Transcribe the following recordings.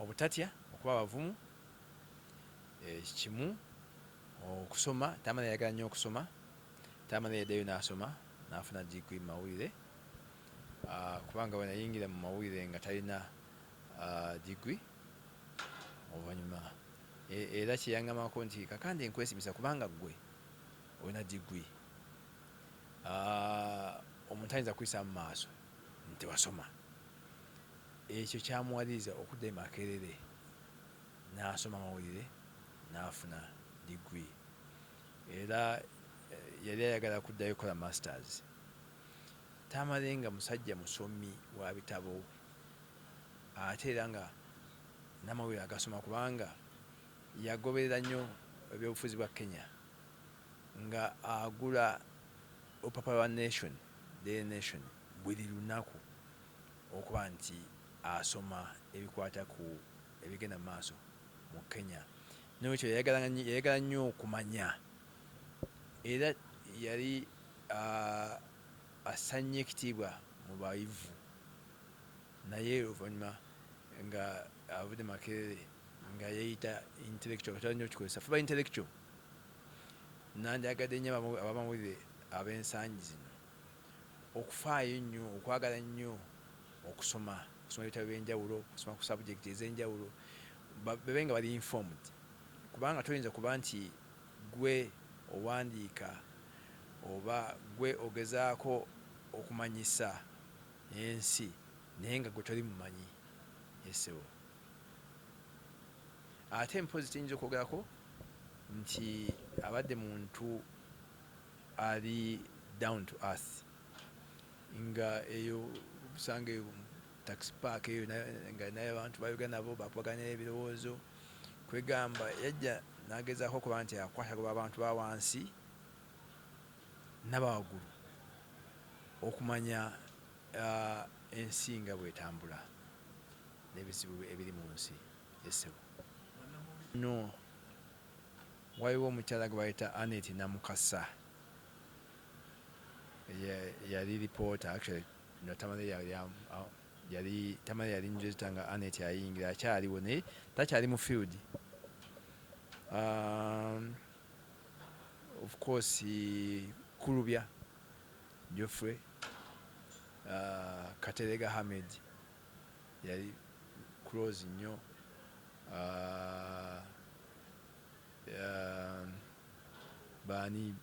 Obutatya, okuba abavumu kimu, okusoma, Tamale yayagala nnyo okusoma. Tamale yaddayo n'asoma n'afuna diguli mu mawulire kubanga bwe nayingira mu mawulire nga talina diguli. Oluvannyuma era kye yangambako nti Kakande nkwesimisa kubanga ggwe olina diguli, omuntu ayinza kukuyisaamu maaso nti tewasoma. Ekyo kyamuwaliriza okudda e Makerere n'asoma amawulire n'afuna diguli. Era yali ayagala kuddayo kukola Masters. Tamale nga musajja musomi wa bitabo ate era nga n'amawulire agasoma kubanga yagoberera nnyo ebyobufuzi bwa Kenya nga agula olupapula lwa Nation, Daily Nation. buli lunaku okuba nti asoma ebikwata ku ebigenda mu maaso mu Kenya. N'olwekyo yayagalanga yayagala nnyo okumanya era yali assa nnyo ekitiibwa mu bayivu naye oluvannyuma ng'avudde mu Makerere nga yeeyita intellectual, katera nnyo okukikozesa for intellectual. Nandyagadde nnyo abamawulire ab'ensangi zino. Okufaayo ennyo, okwagala ennyo okusoma, okusoma ebitabo eby'enjawulo, okusoma ku subject ez'enjawulo, babe nga bali informed kubanga toyinza kuba nti ggwe owandiika oba ggwe ogezaako okumanyisa ensi naye nga ggwe toli mumanyi ye ssebo. Ate mpozzi kye nyinza okwogerako nti abadde muntu. Ali down to earth nga eyo obusanga eyo tax park eyo nga naye abantu bayoga nabo bakubaganya ebirowoozo kwegamba yajja nagezaako okuba nti akwatagoba abantu ba wansi nabawagulu okumanya uh, ensi nga bwetambula n'ebizibu ebiri mu nsi esebo no Waliwo omukyala gwe bayita Annet Namukasa yali lipoota actually no Tamale yali yali Tamale yali njozita nga Annet ayingira akyaliwo naye takyali mu field um, of course Kulubya Geoffrey uh, Katerega Hamed yali close nnyo uh, Uhm baani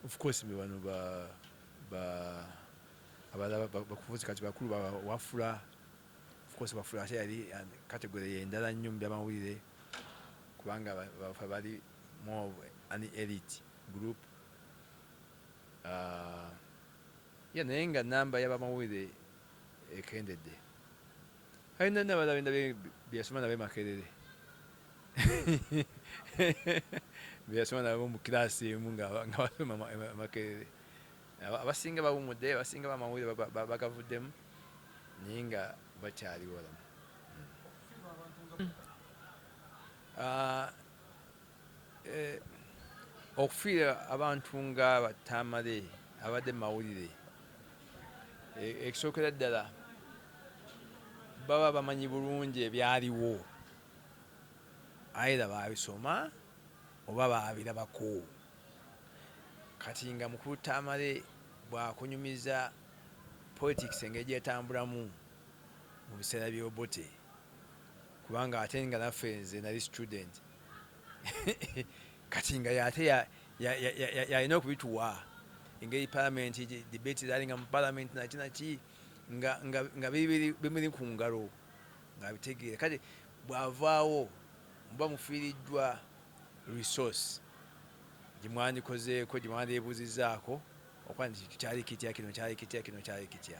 of course bebano ba ba abalala bakufuzi kati bakulu ba wafula of course wafula ate yali category yendala nnyo mubyamawulire kubanga bafa bali more of an elite group uh, ya naye nga namba yabamawulire ekendedde Kale nani abadde abenda byeyasoma nabe Makerere byeyasoma nabo mu kiraasi emu nga basoma Makerere abasinga bawumudde abasinga bamawulire bagavuddemu naye nga bakyaliwo lamu hmm. ah, Eh, okufiira abantu nga batamale abadde mawulire eh, ekisookera ddala baba bamanyi bulungi ebyaliwo aira babisoma oba babirabako kati nga mukulu tamale bwakunyumiza politics engeri gyetambulamu mu biseera byobote kubanga ate nga naffe nze nali student kati nga yate yalina okubituwa engeri palamenti debate zali nga mu palamenti naki naki nga bimuli ku ngalo ngabitegeera kati bwavaawo muba mufiiriddwa resource gyemwandikozeeko gyemwandibuzizaako okuba nti kintu kyali kitya kino kyali kitya kino kyali kitya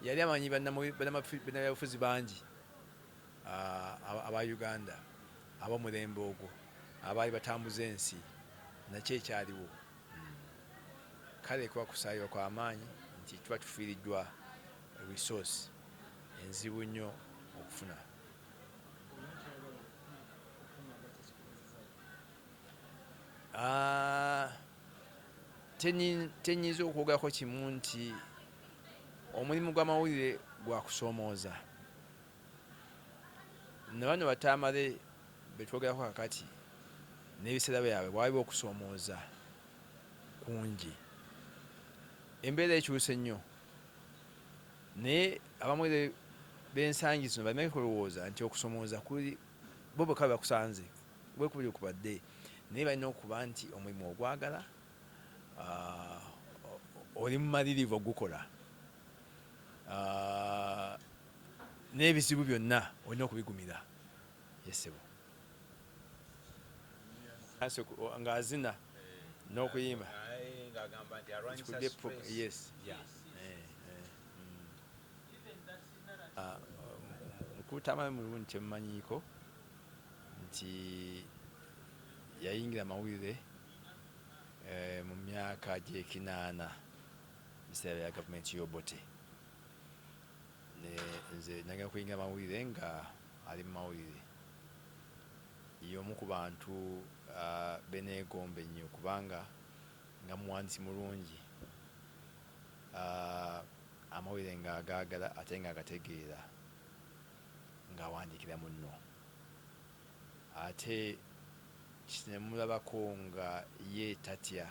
yali amanyi banabyabufuzi bangi aba Uganda ab'omulembe ogwo abaali batambuza ensi nakyo ekyaliwo. Kale kuba kusaayiwa kwa maanyi nti tuba tufiiriddwa resource enzibu nnyo okufuna. Ah, tenyinza okwogerako kimu nti omulimu gw'amawulire gwa kusoomooza. Nabano batamale betwogerako kakati nebiseera byabwe bwaliba okusomooza kungi embeera ekyuse nnyo naye abamu bensangi zino balina kulowooza nti okusomooza kuli bo bweka bebakusanze wekubiri kubadde naye balina okuba nti omulimu ogwagala ah, oli mumalirivu ogukola. n'ebizibu byonna olina okubigumira yesebo nga azina n'okuyimba mukutama mm. ah, mulungi kyemumanyiiko nti yayingira amawulire eh, mu myaka gyekinaana mu biseera bya gavumenti y'Obote ne nze nagenda kuyingira mawulire nga ali mu mawulire y'omu ku bantu uh, beneegomba ennyo kubanga nga muwandiisi mulungi uh, amawulire nga agaagala ate nga agategeera ng'awandiikira munno ate kinemulabako nga ye tatya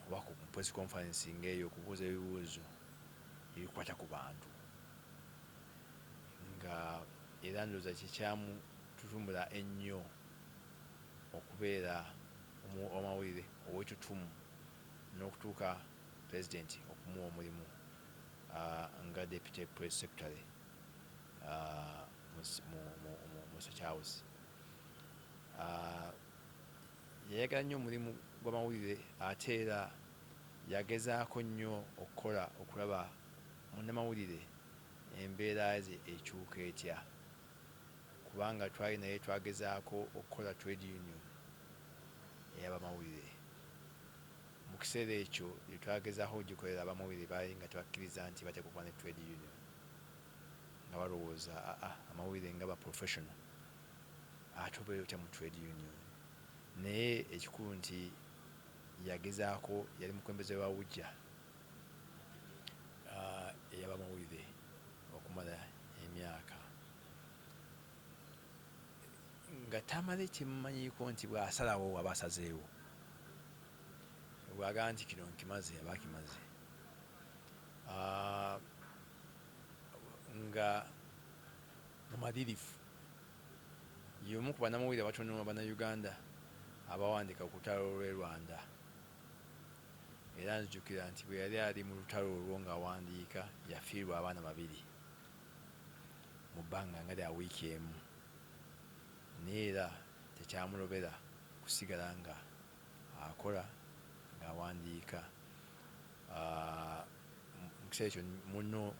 oba ku press conference nga eyo okubuuza ebibuuzo ebikwata ku bantu nga era ndoza kyekyamu tutumula ennyo okubeera omawulire owetutumu n'okutuuka president okumuwa omulimu nga deputy press secretary mu State House. Yayagala nnyo omulimu gw'amawulire ate era yagezaako nnyo okukola okulaba munnamawulire embeera ye ekyuka etya kubanga twali naye twagezaako okukola Trade Union ey'abamawulire. Mu kiseera ekyo gye twagezaako okugikolera abamawulire baali nga tebakkiriza nti bateekwa okuba ne Trade Union nga balowooza amawulire nga ba professional ate obeera otya mu trade union naye ekikulu nti yagezaako yali mukulembeze wa UJA eyabamawulire okumala emyaka nga tamale kyemumanyiiko nti bwasalawo aba asazeewo bwagaa nti kino nkimaze aba akimaze nga mumalirivu Y'omu ku bannamawulire abatono Bannayuganda abaawandiika ku lutalo lw'e Rwanda era nzijukira nti bwe yali ali mu lutalo olwo ng'awandiika yafiirwa abaana babiri mu bbanga nga lya wiiki emu naye era tekyamulobera kusigala nga akola ng'awandiika. Ah, mu kiseera ekyo munno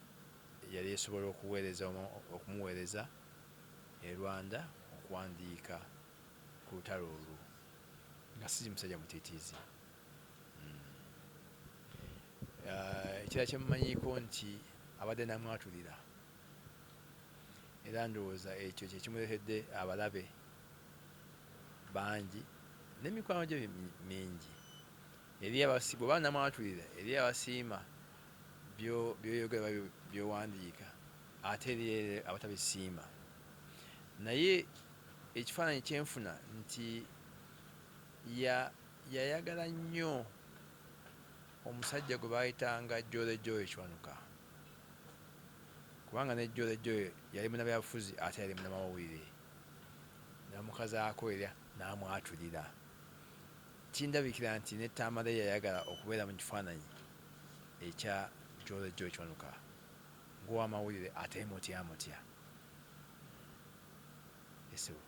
yali esobola okuweereza omu okumuweereza e Rwanda okuwandiika ku lutalo olwo nga si musajja mutiitiizi. Hmm. Eh, ekirala kye mumanyiiko nti abadde namwatulira era ndowooza ekyo kye kimuleetedde abalabe bangi n'emikwano gye mingi eri abasiibwe oba namwatulira eri abasiima byoyogera oba byowandiika ate eriyo abatabisiima naye ekifaananyi kyenfuna nti yayagala nnyo omusajja gwe baayitanga Jole Joy Kiwanuka kubanga ne Jole Joy yali munabyabufuzi ate yali munamawulire namukazaako era n'amwatulira kindabikira nti ne Tamale yayagala okubeera mu kifaananyi ekya Jolly Joy Kiwanuka ng'owamawulire ateemutyamutya. Essiru.